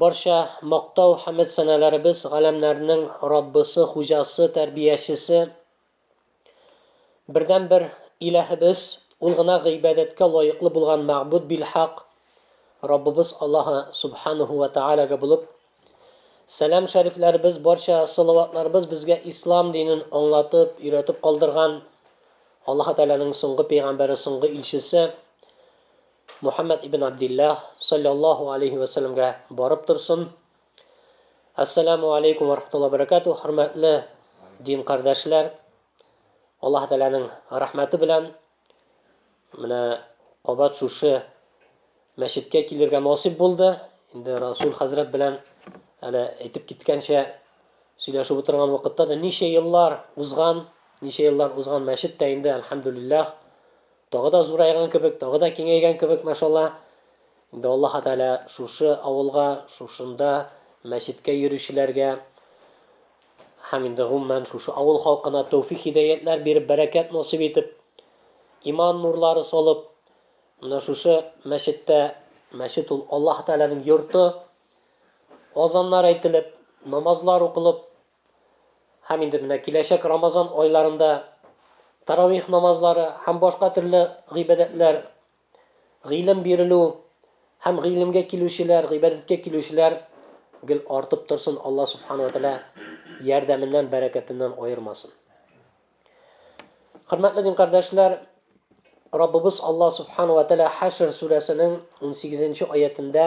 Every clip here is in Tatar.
Барча мактау, хәмед сәнәләребез галәмнәрнең Раббысы, Хуҗасы, Тәрбиячесе, бердәнбер Илаһыбыз, Ул гына гыйбадәткә лаеклы булган мәгъбуд билхак Раббыбыз Аллаһы Субханәһү вә Тәгаләгә булып, сәлам шәрифләребез, барча салаватларыбыз безгә Ислам динен аңлатып, өйрәтеп калдырган Аллаһы Тәгаләнең соңгы пәйгамбәре, соңгы илчесе, Мухаммәд ибн Абдиллаһ саллаллаһу алейһи вә сәлләмгә барып торсын. Ассаламу алейкум ва рахматуллаһи ва баракату, хөрмәтле дин кардәшләр. Аллаһ Тәгаләнең рәхмәте белән менә кабат шушы мәчеткә килергә насыйп булды. Инде Расул хәзрәт белән әле әйтеп киткәнчә сөйләшеп утырган вакытта да ничә еллар узган, ничә еллар узган мәчет тә инде, альхамдулиллаһ, Тагы да зурайган кебек, тагы да киңәйгән кебек, машалла. Инде Аллаһы Тәгалә шушы авылга, шушында мәчеткә йөрүчеләргә һәм инде гомумән шушы авыл халкына тәүфик-хидаятләр биреп, бәрәкәт насыйп итеп, иман нурлары салып, менә шушы мәчеттә, мәчет ул Аллаһы Тәгаләнең йорты, азаннар әйтелеп, намазлар укылып, Һәм инде менә киләчәк Рамазан айларында таравих намазлары һәм башка төрле гыйбадәтләр, гыйлем бирелү һәм гыйлемгә килүчеләр, гыйбадәткә килүчеләр гел артып торсын, Алла субхана ва тәала ярдәменнән, бәрәкәтеннән аермасын. Хөрмәтле дин кардәшләр, Раббыбыз Алла субхана ва тәала Хәшр сүрәсенең 18 нче аятендә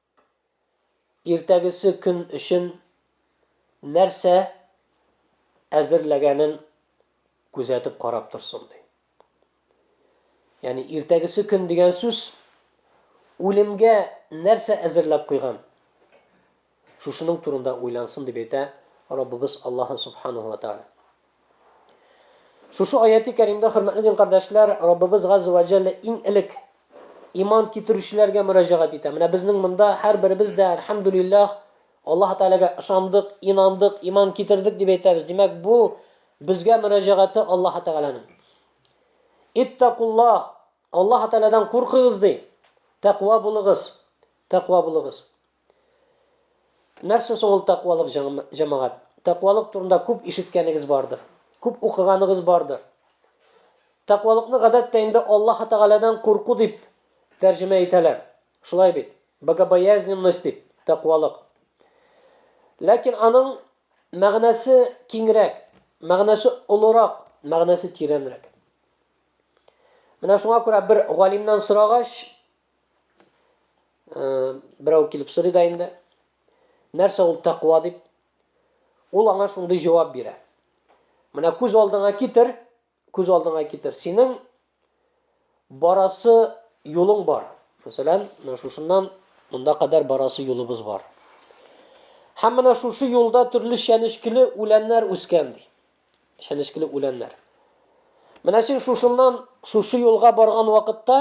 иртәгесе көн өчен нәрсә әзерләгәнен күзәтеп карап торсын, ди. Ягъни иртәгесе көн дигән сүз үлемгә нәрсә әзерләп куйган? Шушының турында уйлансын дип әйтә Раббыбыз Аллаһ Субханаһу ва Тааля. Шушы аяти кәримдә, хөрмәтле дин кардәшләр, Раббыбыз газза вә җәллә иң элек иман китерүчеләргә мөрәҗәгать итә. Менә безнең монда һәрберебез дә, әлхәмдүлиллаһ, Аллаһ Тәгаләгә ышандык, инандык, иман китердек дип әйтәбез. Димәк, бу безгә мөрәҗәгате Аллаһ Тәгаләнең. Иттәкуллаһ, Аллаһ Тәгаләдән куркыгыз, ди. Тәкъва булыгыз, тәкъва булыгыз. Нәрсә соң ул тәкъвалык, җәмәгать? Тәкъвалык турында күп ишеткәнегез бардыр. Күп укыганыгыз бардыр. Тәкъвалыкны гадәттә инде Аллаһ Тәгаләдән курку дип тәрҗемә итәләр. Шулай бит? Богобоязненность дип, тәкъвалык. Ләкин аның мәгънәсе киңрәк, мәгънәсе олырак, мәгънәсе тирәнрәк. Менә шуңа күрә бер галимнән сорагач, Берәү килеп сорый да инде. Нәрсә ул тәкъва дип? Ул аңа шундый җавап бирә. Менә күз алдыңа китер, күз алдыңа китер. Синең барасы юлың бар. Мәсәлән, менә шушыннан монда кадәр барасы юлыбыз бар. Һәм менә шушы юлда төрле чәнечкеле үләннәр үскән ди. Чәнечкеле үләннәр. Менә син шушыннан шушы юлга барган вакытта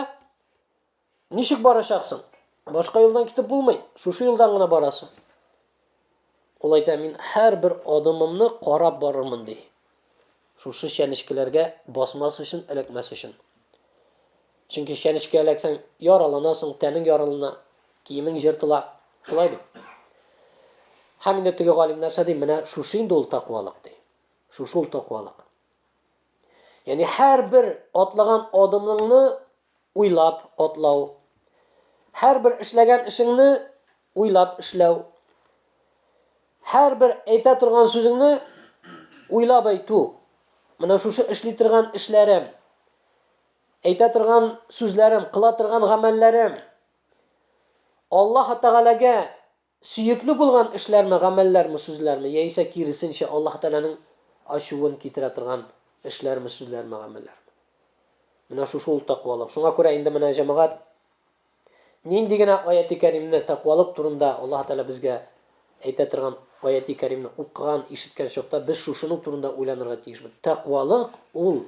Ничек барачаксың? Башка юлдан китеп булмый. Шушы юлдан гына барасы. Ул әйтә, мин һәрбер адымымны карап барырмын ди. Шушы чәнечкеләргә басмас өчен, эләкмәс өчен. Чөнки чәнечкә эләксәң, яраланасың, тәнең яралана, киемең җыртыла. Шулай бит. Һәм инде теге галимнәрчә ди, менә шушы инде ул таквалык ди. Шушы ул таквалык. Яни һәрбер атлаган адымыңны уйлап атлау. Һәрбер эшләгән эшеңне уйлап эшләү. Һәрбер әйтә торган сүзеңне уйлап әйтү. Менә шушы эшли торган эшләрем, әйтә торган сүзләрем, кыла торган гамәлләрем Аллаһ Тәгаләгә Сөекле булган эшләрме, гамәлләрме, сүзләрме, яисә киресенчә, Аллаһ Тәгаләнең ачуын китерә торган эшләрме, сүзләрме, гамәлләрме? Менә шушы ул тәкъвалык. Шуңа күрә инде менә җәмәгать нинди генә аяти кәримне тәкъвалык турында Аллаһ Тәгалә безгә әйтә торган аяти кәримне укыган, ишеткән чакта без шушының турында уйланырга тиешбез. Тәкъвалык ул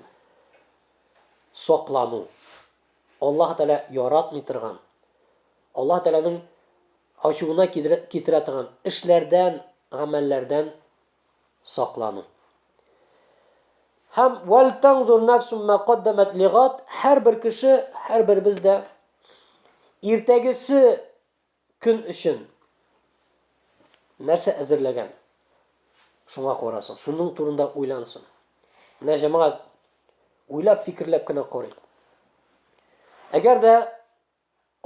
саклану. Аллаһ Тәгалә яратмый торган, Аллаһ Тәгаләнең Ачуына китерә торган эшләрдән, гамәлләрдән саклану. Һәм вәлтәңзур нәфсүм мә каддәмәт лигад, һәрбер кеше, һәрберебез дә иртәгесе көн өчен нәрсә әзерләгән? Шуңа карасын, шуның турында уйлансын. Менә җәмәгать уйлап, фикерләп кенә карыйк. Әгәр дә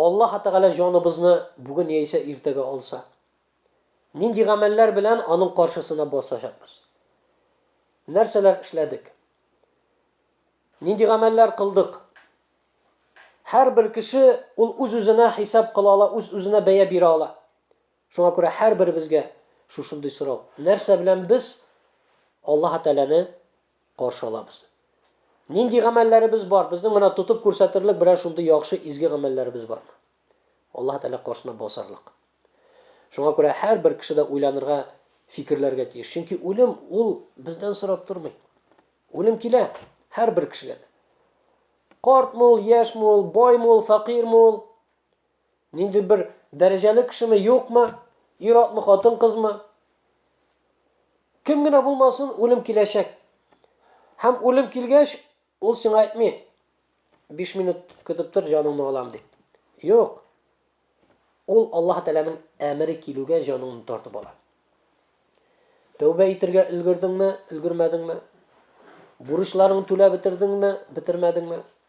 Аллаһы Тәгалә җаныбызны бүген яисә иртәгә алса, нинди гамәлләр белән Аның каршысына басачакбыз? Нәрсәләр эшләдек? Нинди гамәлләр кылдык? Һәрбер кеше ул үз-үзенә хисап кыла ала, үз-үзенә бәя бирә ала. Шуңа күрә һәрберебезгә шушындый сорау. Нәрсә белән без Аллаһы Тәгаләне каршы алабыз. Нинди гамәлләребез бар? Безнең менә тотып күрсәтерлек берәр шундый яхшы изге гамәлләребез бармы? Аллаһ Тәгалә каршына басарлык. Шуңа күрә һәрбер кеше дә уйланырга, фикерләргә тиеш. Чөнки үлем ул бездән сорап тормый. Үлем килә һәрбер кешегә. Картмы ул, яшьме ул, байлмы ул, фәкыйрьме ул? Нинди бер дәрәҗәле кешеме, юкмы, ир-атмы, хатын-кызмы? Кем генә булмасын, үлем киләчәк. Һәм үлем килгәч, ул сиңа әйтми, 5 минут көтеп тор, җаныңны алам дип. Юк. Ул Аллаһ Тәгаләнең әмере килүгә җаныңны тартып ала. Тәүбә итергә өлгердеңме, өлгермәдеңме? Бурычларыңны түләп бетердеңме, бетермәдеңме?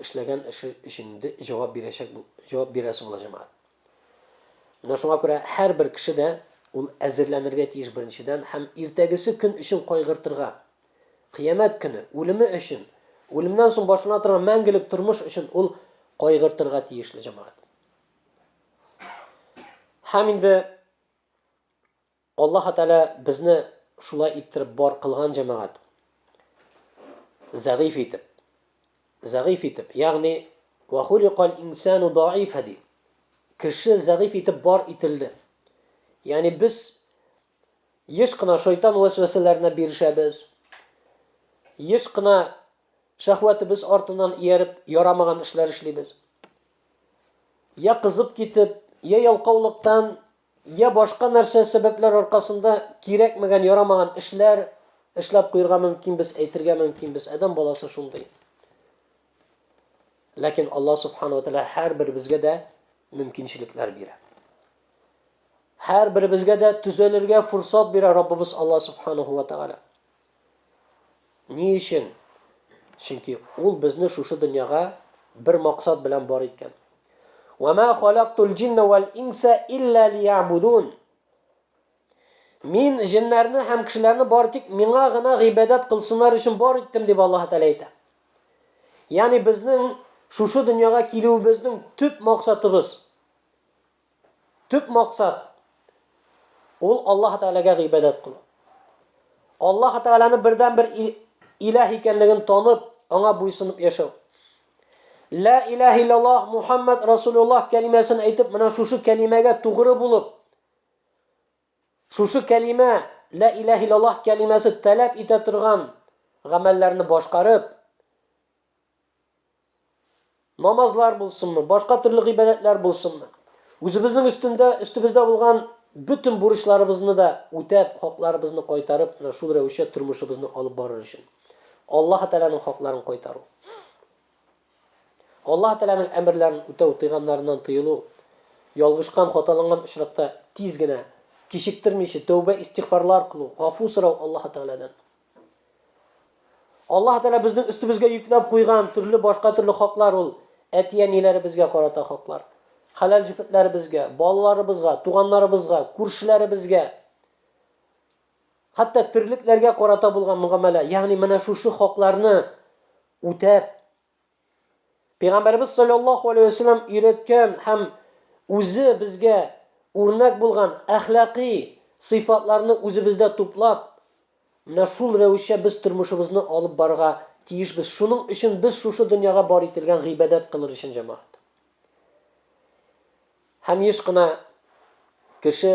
эшләгән эше өчен ди җавап бирәчәк бу җавап бирәсе була җәмәгать менә шуңа күрә һәрбер кеше дә ул әзерләнергә тиеш беренчедән һәм иртәгесе көн өчен кайгыртырга кыямәт көне үлеме өчен үлемнән соң башлана торган мәңгелек тормыш өчен ул кайгыртырга тиешле җәмәгать һәм инде Аллаһы Тәгалә безне шулай иттереп бар кылган, җәмәгать. Зәгыйфь итеп. Зәгыйфь итеп. Ягъни, Вә хуликаль инсану даифа, ди. Кеше зәгыйфь итеп бар ителде. Ягъни, без еш кына шайтан вәсвәсәләренә бирешәбез. Еш кына шәһвәтебез артыннан ияреп, ярамаган эшләр эшлибез. Я кызып китеп, я ялкаулыктан Йә башка нәрсә сәбәпләр аркасында кирәкмәгән, ярамаган эшләр эшләп куерга мөмкинбез, әйтергә мөмкинбез. Адәм баласы шундый. Ләкин Аллаһ Субхану Тәгалә һәрберебезгә дә мөмкинчелекләр бирә. Һәрберебезгә дә төзәлергә фурсат бирә Раббыбыз Аллаһ Субхану Тәгалә. Ни өчен? Чөнки ул безне шушы дөньяга бер максат белән бар иткән. Ва ма халактул джинна вал инса илля лиябудун. Мин җеннәрне һәм кешеләрне бар тик миңа гына гыйбадәт кылсыннар өчен бар иттем дип Аллаһ Тәгалә әйтә. Ягъни безнең шушы дөньяга килүебезнең төп максатыбыз Төп максат ул Аллаһ Тәгаләгә гыйбадәт кылу. Аллаһ Тәгаләне бердән бер иләһ икәнлеген танып, аңа буйсынып яшәү. Ла иләһ иллаллаһ Мухаммад Расулуллаһ кәлимәсен әйтеп, менә шушы кәлимәгә тугры булып, шушы кәлимә, ла иләһ иллаллаһ кәлимәсе таләп итә торган гамәлләрне башкарып, Намазлар булсынмы, башка төрле гыйбадәтләр булсынмы. Үзебезнең өстендә, өстебездә булган бөтен бурычларыбызны да үтәп, хакларыбызны кайтарып, менә шул рәвешчә тормышыбызны алып барыр өчен. Аллаһ Тәгаләнең хакларын кайтару. Аллаһ Тәгаләнең әмерләрен үтәү, тыйганнарыннан тыелу, ялгышкан, хаталанган очракта тиз генә, кичектермичә тәүбә, истигъфарлар кылу, гафу сорау Аллаһ Тәгаләдән. Аллаһ Тәгалә безнең өстебезгә йөкләп куйган төрле башка төрле хаклар ул әти-әниләребезгә карата хаклар. Хәләл җефетләребезгә, балаларыбызга, туганнарыбызга, күршеләребезгә. Хәтта терлекләргә карата булган мөгамәлә, ягъни менә шушы хакларны үтәп, Пәйгамбәрбез саллаллаху алейхи ва саллям өйрәткән һәм үзе безгә үрнәк булган әхлакый сыйфатларны үзебездә туплап, менә шул рәвешчә без тормышыбызны алып барырга тиешбез. Шуның өчен без шушы дөньяга бар ителгән гыйбадәт кылыр өчен җәмәгать. Һәм еш кына кеше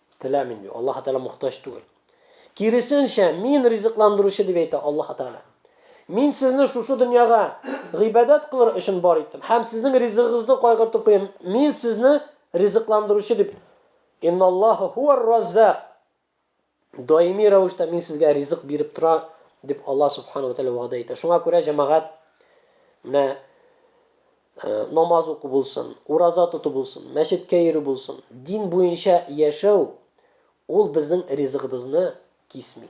Теләмим ди. Аллаһ Тәгалә мохтаҗ түгел. Киресенчә, мин ризыкландыручы дип әйтә Аллаһ Тәгалә. Мин сезне шушы дөньяга гыйбадәт кылыр өчен бар иттем. Һәм сезнең ризыгыгызны кайгыртып куям. Мин сезне ризыкландыручы дип. Инналлаһу хуар раззак. Даими рәвештә мин сезгә ризык биреп тора дип Аллаһ Субхану ва Тәгалә вәгъдә итә. Шуңа күрә җәмәгать менә намаз уку булсын, ураза тоту булсын, мәчеткә йөрү булсын, дин буенча яшәү ул безнең ризыгыбызны кисми.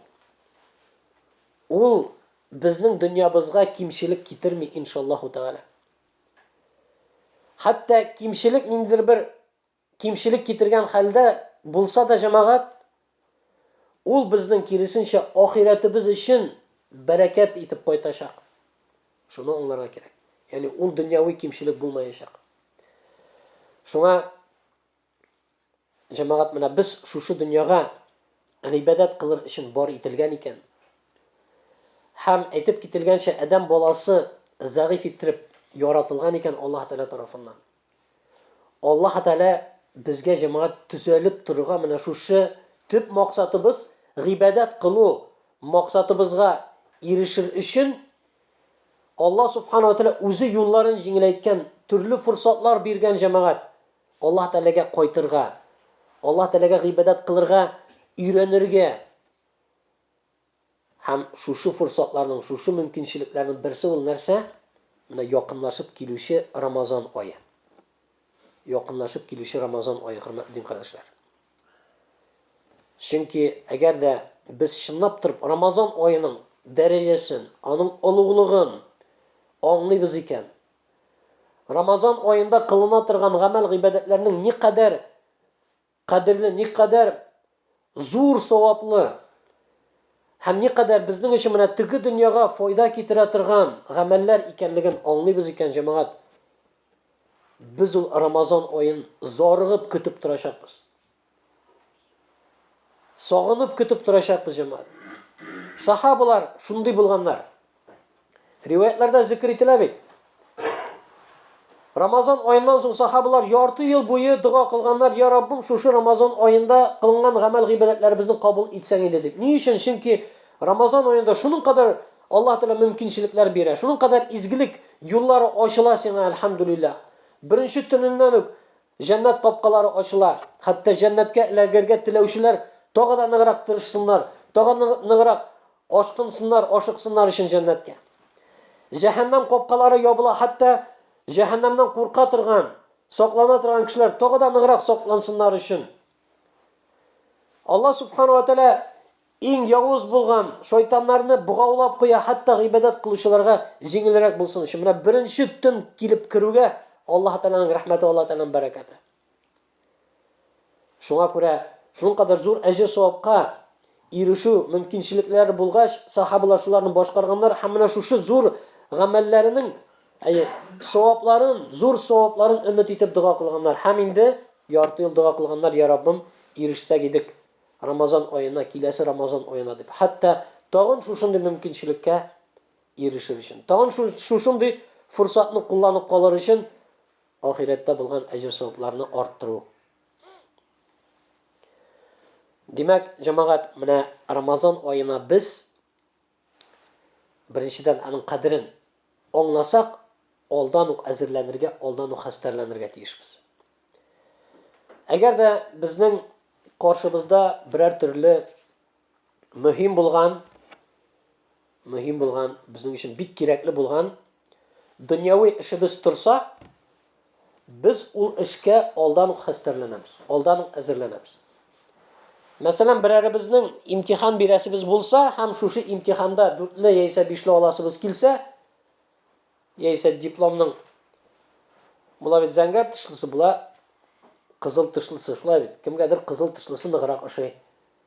Ул безнең дөньябызга кимчелек китерми, иншаллаһу тәгалә. Хәтта кимчелек ниндидер бер кимчелек китергән хәлдә булса да җәмәгать, ул безнең, киресенчә, ахирәтебез өчен бәрәкәт итеп кайтачак. Шуны аңларга кирәк. Ягъни ул дөньяви кимчелек булмаячак. Шуңа җәмәгать менә без шушы дөньяга гыйбадәт кылыр өчен бар ителгән икән. Һәм әйтеп кителгәнчә, адәм баласы зәгыйф иттереп яратылган икән Аллаһ Тәгалә тарафыннан. Аллаһы Тәгалә безгә җәмәгать төзәлеп торырга менә шушы төп максатыбыз, гыйбадәт кылу максатыбызга ирешер өчен Аллаһ Субхана ва Тәгалә үзе юлларын җиңеләйткән, төрле форсатлар биргән җәмәгать. Аллаһы Тәгаләгә кайтырга, Аллаһы Тәгаләгә гыйбадәт кылырга өйрәнергә. Һәм шушы форсатларның, шушы мөмкинчелекләрнең берсе ул нәрсә? Менә якынлашып килүче Рамазан ае. Якынлашып килүче Рамазан ае, хөрмәтле дин кардәшләр. Чөнки әгәр дә без чынлап торып Рамазан аеның дәрәҗәсен, аның олуглыгын аңлыйбыз икән, Рамазан аенда кылына торган гамәл-гыйбадәтләрнең никадәр Кадерле, никадәр зур саваплы һәм никадәр безнең өчен менә теге дөньяга файда китерә торган гамәлләр икәнлеген аңлыйбыз икән, җәмәгать. Без ул Рамазан аен зарыгып көтеп торачакбыз. Сагынып көтеп торачакбыз, җәмәгать. Сахабалар шундый булганнар. Риваятларда зикр ителә бит. Рамазан аеннан соң сахабалар ярты ел буе дога кылганнар, "Я Раббым, шушы Рамазан аенда кылган гамәл гыйбадәтләребезне кабул итсәң иде" дип. Ни өчен? Чөнки Рамазан аенда шуның кадәр Аллаһ Тәгалә мөмкинчелекләр бирә, шуның кадәр изгелек юллары ачыла сиңа, альхамдулилла. Беренче төненнән үк җәннәт капкалары ачыла. Хәтта җәннәткә эләгергә теләүчеләр тагы да ныграк тырышсыннар, тагы ныграк Ашкынсыннар, ашыксыннар өчен җәннәткә. Җәһәннәм капкалары ябыла, хәтта җәһәннәмнән курка торган, саклана торган кешеләр тагы да ныграк саклансыннар өчен. Алла субхану ва тәлә иң явыз булган шайтаннарны богаулап куя, хәтта гыйбадәт кылучыларга җиңелрәк булсын өчен. Менә беренче төн килеп керүгә Аллаһ Тәгаләнең рәхмәте, Аллаһ Тәгаләнең бәрәкәте. Шуңа күрә шулкадәр зур әҗер-савапка ирешү мөмкинчелекләре булгач, сахабалар шуларны башкарганнар һәм менә шушы зур гамәлләренең әйе, савапларын, зур савапларын өмет итеп дога кылганнар. Һәм инде ярты ел дога кылганнар, я Раббым, ирешсәк идек Рамазан аена, киләсе Рамазан аена дип. Хәтта тагын шушындый мөмкинчелеккә ирешер өчен, тагын шушындый форсатны кулланып калыр өчен ахирәттә булган әҗер-савапларны арттыру. Димәк, җәмәгать, менә Рамазан аена без беренчедән аның кадерен аңласак, алдан ук әзерләнергә, алдан ук хәстәрләнергә тиешбез. Әгәр дә безнең каршыбызда берәр төрле мөһим булган, мөһим булган, безнең өчен бик кирәкле булган дөньяви эшебез торса, без ул эшкә алдан ук хәстәрләнәбез, алдан ук әзерләнәбез. Мәсәлән, берәребезнең имтихан бирәсебез булса һәм шушы имтиханда дүртле яисә бишле аласыбыз килсә, яисә дипломның була бит зәңгәр тышлысы була, кызыл тышлысы шулай бит. Кемгәдер кызыл тышлысы ныграк ошый.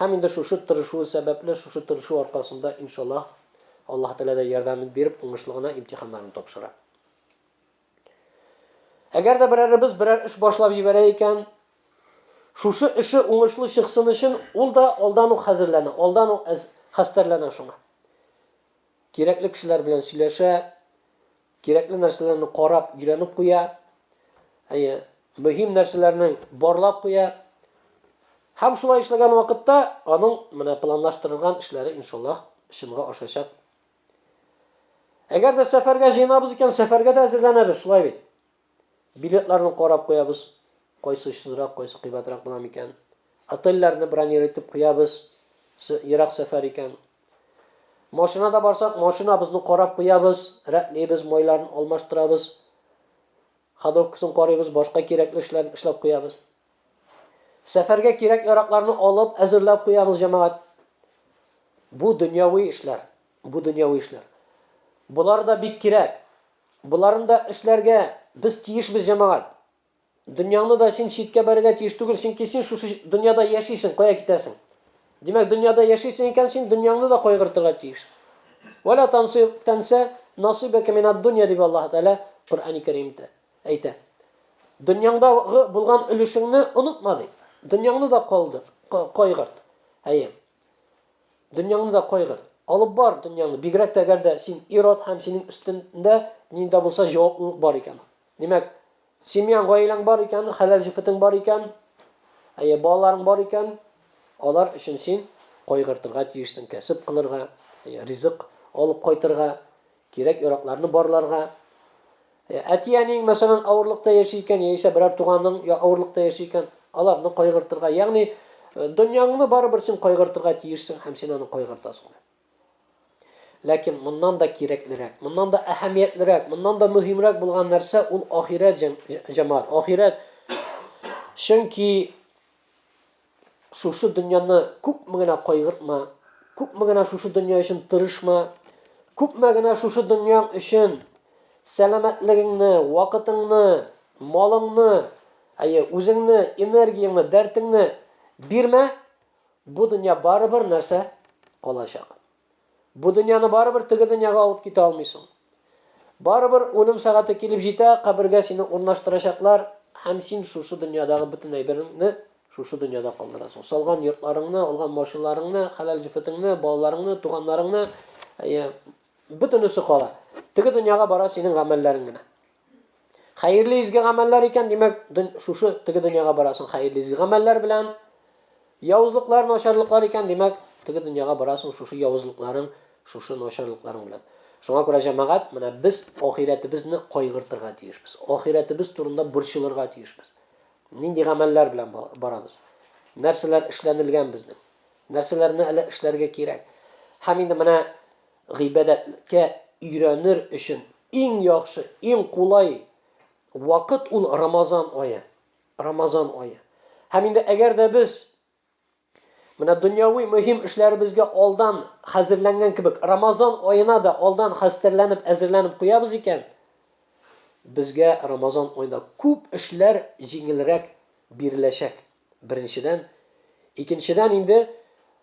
Һәм инде шушы тырышуы сәбәпле, шушы тырышу аркасында, иншаллаһ, Аллаһ Тәгалә дә ярдәмен биреп, уңышлы гына имтиханнарын тапшыра. Әгәр дә берәребез берәр эш башлап җибәрә икән, шушы эше уңышлы чыксын өчен, ул да алдан ук хәзерләнә, алдан ук хәстәрләнә шуңа. Кирәкле кешеләр белән сөйләшә, Кирәкле нәрсәләрне карап, өйрәнеп куя. Әйе, мөһим нәрсәләрне барлап куя. Һәм шулай эшләгән вакытта аның менә планлаштырылган эшләре иншаллаһ чынга ашачак. Әгәр дә сәфәргә җыенабыз икән, сәфәргә дә әзерләнәбез, шулай бит. Билетларны карап куябыз, кайсы очсызрак, кайсы кыйбатрак була микән. Отельләрне бронир итеп куябыз, ерак сәфәр икән. Машинада барсак, машинабызны карап куябыз, рәтлибез, майларын алмаштырабыз, ходовкасын карыйбыз, башка кирәкле эшләрне эшләп куябыз. Сәфәргә кирәк-яракларны алып, әзерләп куябыз, җәмәгать. Бу дөньяви эшләр, бу дөньяви эшләр. Болар да бик кирәк. Боларын да эшләргә без тиешбез, җәмәгать. Дөньяңны да син читкә бәрергә тиеш түгел, чөнки син шушы дөньяда яшисең, кая китәсең? Димәк, дөньяда яшисең икән, син дөньяңны да кайгыртырга тиеш. Вәлә тансы тәнсә насыйбәкә минад дөнья дип Аллаһ Тәгалә Коръәни Кәримдә әйтә. Дөньяңдагы булган өлешеңне онытма ди. Дөньяңны да калдыр, кайгырт. Әйе. Дөньяңны да кайгыр. Алып бар дөньяңны, бигрәк тә әгәр дә син ир-ат һәм синең өстендә нинди дә булса җаваплылык бар икән. Димәк, семьяң, гаиләң бар икән, хәләл җефетең бар икән, әйе, балаларың бар икән, алар өчен син кайгыртырга тиешсең, кәсеп кылырга, әйе, ризык алып кайтырга, Кирәк яракларны барларга. Э, Әти-әниең, мәсәлән, авырлыкта яши икән, яисә берәр туганың я авырлыкта яши икән, аларны кайгыртырга. Ягъни, э, дөньяңны барыбер син кайгыртырга тиешсең һәм син аны кайгыртасың. Ләкин моннан да кирәклерәк, моннан да әһәмиятлерәк, моннан да мөһимрәк булган нәрсә ул ахирәт җәмәгать, ахирәт. Чөнки Шушы дөньяны күпме генә кайгыртма, күпме генә шушы дөнья өчен тырышма, күпме генә шушы дөньяң өчен сәламәтлегеңне, вакытыңны, малыңны, әйе, үзеңне, энергияңне, дәртеңне бирмә, бу дөнья барыбер нәрсә калачак. Бу дөньяны барыбер теге дөньяга алып китә алмыйсың. Барыбер үлем сәгате килеп җитә, кабергә сине урнаштырачаклар, һәм син шушы дөньядагы бөтен әйбереңне шушы дөньяда калдырасың. Салган йортларыңны, алган машиналарыңны, хәләл җефетеңне, балаларыңны, туганнарыңны, әйе, бөтенесе кала. Теге дөньяга бара синең гамәлләрең генә. Хәерле изге гамәлләр икән, димәк, шушы теге дөньяга барасың хәерле изге гамәлләр белән. Явызлыклар, начарлыклар икән, димәк, теге дөньяга барасың шушы явызлыкларың, шушы начарлыкларың белән. Шуңа күрә җәмәгать, менә без ахирәтебезне кайгыртырга тиешбез. Ахирәтебез турында борчылырга тиешбез. Нинди гамәлләр белән барабыз? Нәрсәләр эшләнелгән безнең? Нәрсәләрне әле эшләргә кирәк? Һәм инде менә гыйбадәткә өйрәнер өчен Иң яхшы, иң кулай вакыт ул Рамазан ае. Рамазан ае. Һәм инде әгәр дә без менә дөньяви мөһим эшләребезгә алдан хәзерләнгән кебек, Рамазан аена да алдан хәстәрләнеп, әзерләнеп куябыз икән, безгә Рамазан аенда күп эшләр җиңелрәк биреләчәк. Беренчедән, икенчедән инде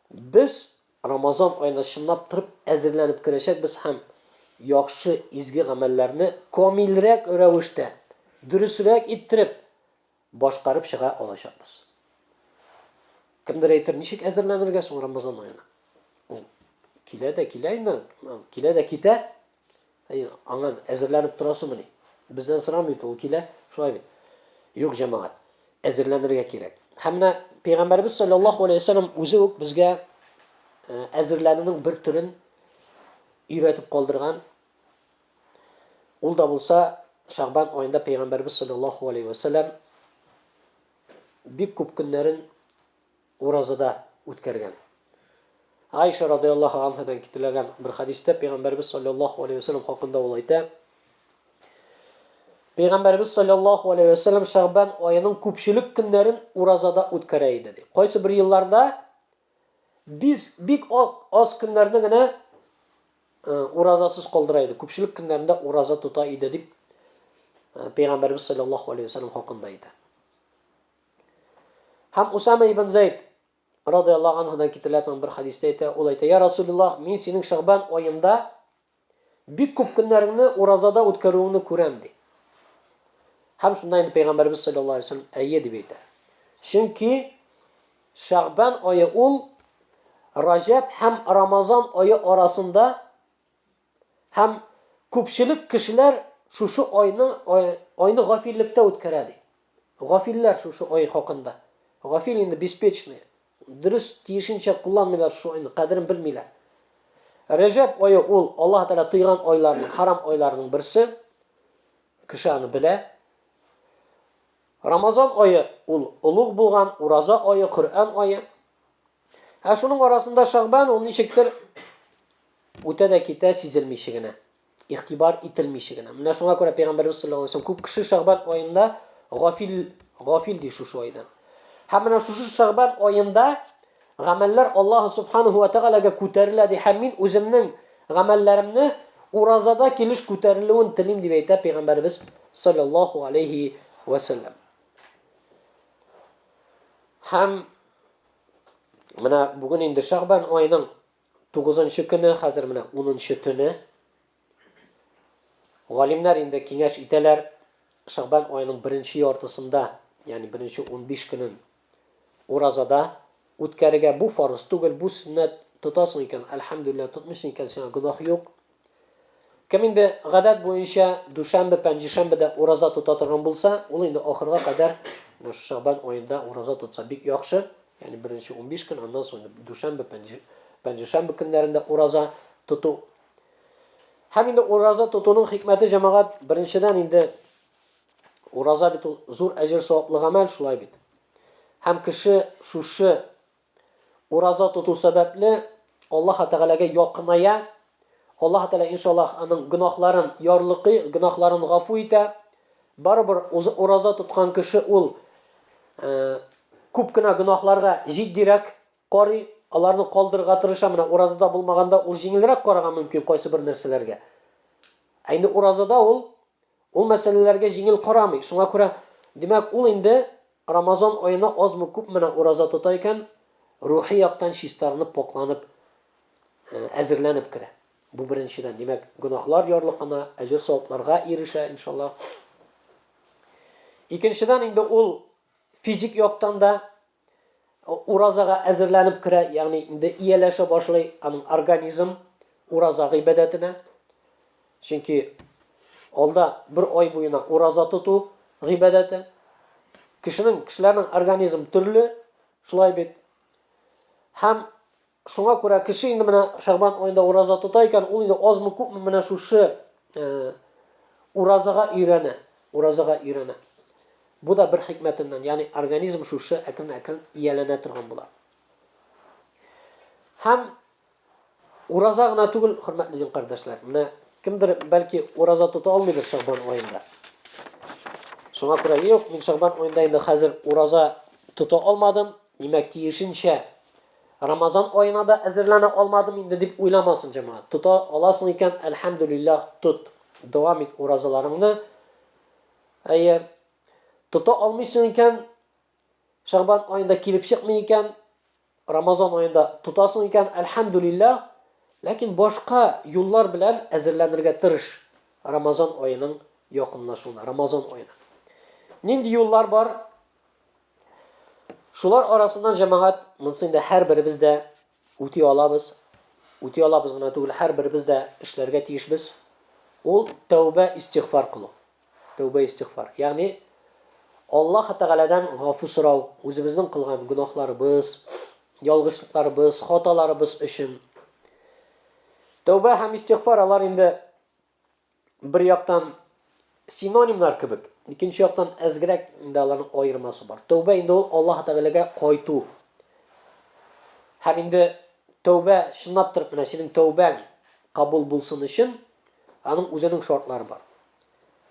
без Рамазан аена чынлап торып әзерләнеп керәчәкбез һәм яхшы, изге гамәлләрне камилрәк рәвештә, дөресрәк иттереп башкарып чыга алачакбыз. Кемдер әйтер, ничек әзерләнергә соң Рамазан аена? Ул килә дә килә инде, килә дә китә, Әй, аңа әзерләнеп торасымыни? Бездән сорамый бит, ул килә, шулай бит. Юк, җәмәгать, әзерләнергә кирәк. Һәм менә Пәйгамбәрбез саллаллаһу алейһи вәсәлләм үзе үк безгә э, әзерләнүнең бер төрен өйрәтеп калдырган. Ул да булса, Шагбан аенда Пәйгамбәрбез саллаллаһу алейһи вәсәлләм бик күп көннәрен Уразада үткәргән. Айша радыяллаһу анһадан китерелгән бер хәдистә Пәйгамбәрбез саллаллаһу алейһи ва сәлләм хакында ул әйтә. Пәйгамбәрбез саллаллаһу алейһи ва сәлләм Шәгъбан аеның күпчелек көннәрен уразада үткәрә иде ди. Кайсы бер елларда без бик аз көннәрне генә э, уразасыз калдыра иде. Күпчелек көннәрендә ураза тота иде дип э, Пәйгамбәрбез саллаллаһу алейһи ва сәлләм хакында әйтә. Һәм Усама ибн Зәйд радиаллаһу анһудан китерелә торган бер хадистә әйтә, ул әйтә: "Я Расулуллаһ, мин синең Шәгъбан аенда бик күп көннәреңне уразада үткәрүеңне күрәм", ди. Һәм шунда инде пәйгамбәрбез саллаллаһу алейһи вәсәлләм әйе дип әйтә. Чөнки Шәгъбан ае ул Раҗәб һәм Рамазан ае арасында Һәм күпчелек кешеләр шушы айны айны гафиллектә үткәрә, ди. Гафилләр шушы ай хакында. Гафил инде беспечный. Дөрес, тиешенчә кулланмыйлар шушы айны, кадерен белмиләр. Рәҗәб ае ул Аллаһы Тәгалә тыйган айларның, харам айларның берсе. Кеше аны белә. Рамазан ае ул олуг булган ураза ае, Коръән ае. Ә шуның арасында Шагбан ул ничектер үтә дә китә сизелмичә генә, игътибар ителмичә генә. Менә шуңа күрә Пәйгамбәрбез саллаллаһу алейһи ва күп кеше Шагбан аенда гафил гафил ди шушы айдан. Һәм менә шушы Шагбан аенда гамәлләр Аллаһ субханаһу ва тәгаләгә күтәрелә ди һәм мин үземнең гамәлләремне уразада килеш күтәрелүен телим дип әйтә Пәйгамбәрбез саллаллаһу алейһи ва саллям. Һәм Менә бүген инде Шәгъбан айының 9нчы көне, хәзер менә 10нчы төне. Галимнәр инде киңәш итәләр, Шәгъбан айының беренче яртысында, ягъни беренче 15 көнен уразада үткәрергә бу фарыз түгел, бу сөннәт тотасың икән, әлхәмдүлилләһ, тотмыйсың икән, сиңа гөнаһ юк, Кем инде гадәт буенча дүшәмбе-пәнҗешәмбедә ураза тота торган булса, ул инде ахырга кадәр Шәгъбан аенда ураза тотса бик яхшы. Ягъни беренче унбиш көн, аннан соң дүшәмбе, пәнҗешәмбе көннәрендә ураза тоту. Һәм инде ураза тотуның хикмәте, җәмәгать, беренчедән инде ураза бит ул зур әҗер-саваплы гамәл, шулай бит. Һәм кеше шушы Ураза тоту сәбәпле, Аллаһы Тәгаләгә якыная. Аллаһы Тәгалә, иншаллаһ, аның гөнаһларын ярлыкый, гөнаһларын гафу итә. Барыбер ураза тоткан кеше ул күп кенә гөнаһларга җитдирәк карый, аларны калдырырга тырыша. Менә уразада булмаганда ул җиңелрәк карарга мөмкин кайсы бер нәрсәләргә. Ә инде уразада ул ул мәсьәләләргә җиңел карамый. Шуңа күрә, димәк, ул инде Рамазан аена азмы-күпмена ураза тота икән, рухи яктан чистарынып, покланып, әзерләнеп керә. Бу беренчедән, димәк, гөнаһлар ярлыкына, әҗер-савапларга ирешә, иншалла. Икенчедән, инде ул физик яктан да уразага әзерләнеп керә, ягъни инде ияләшә башлый аның организм ураза гыйбадәтенә. Чөнки алда бер ай буена ураза тоту гыйбадәте. Кешенең, кешеләрнең организм төрле, шулай бит. Һәм шуңа күрә кеше инде менә Шәгъбан аенда ураза тота икән, ул инде азмы күпме менә шушы э, уразага өйрәнә, уразага өйрәнә. Бу да бер хикмәтеннән, ягъни организм шушы әкрен-әкрен ияләнә торган була. Һәм Ураза гына түгел, хөрмәтле дин кардәшләр. Менә кемдер бәлки ураза тота алмыйдыр Шәгъбан аенда. Шуңа күрә юк, мин Шәгъбан аенда инде хәзер ураза тота алмадым. Димәк, тиешенчә Рамазан аена да әзерләнә алмадым инде дип уйламасын җәмәгать. Тота аласың икән, әлхәмдүлиллаһ, тот. Дәвам ит уразаларыңны. Әйе. Тота алмыйсың икән, Шәгъбан аенда килеп чыкмый икән, Рамазан аенда тотасың икән, әлхәмдүлилләһ, ләкин башка юллар белән әзерләнергә тырыш Рамазан аеның якынлашуына, Рамазан аена. Нинди юллар бар? Шулар арасыннан җәмәгать, монысы инде һәрберебез дә үти алабыз. Үти алабыз гына түгел, һәрберебез дә эшләргә тиешбез. Ул тәүбә, истигъфар кылу. Тәүбә-истигъфар. Ягъни, Аллаһ Тәгаләдән гафу сорау, үзебезнең кылган гөнаһларыбыз, ялгышлыкларыбыз, хаталарыбыз өчен. Тәүбә һәм истигъфар алар инде бер яктан синонимнар кебек, икенче яктан әзгерәк инде аларның аермасы бар. Тәүбә инде ул Аллаһ Тәгаләгә кайту. Һәм инде тәүбә чынлаптыр, менә синең тәүбәң кабул булсын өчен Аның үзенең шартлары бар.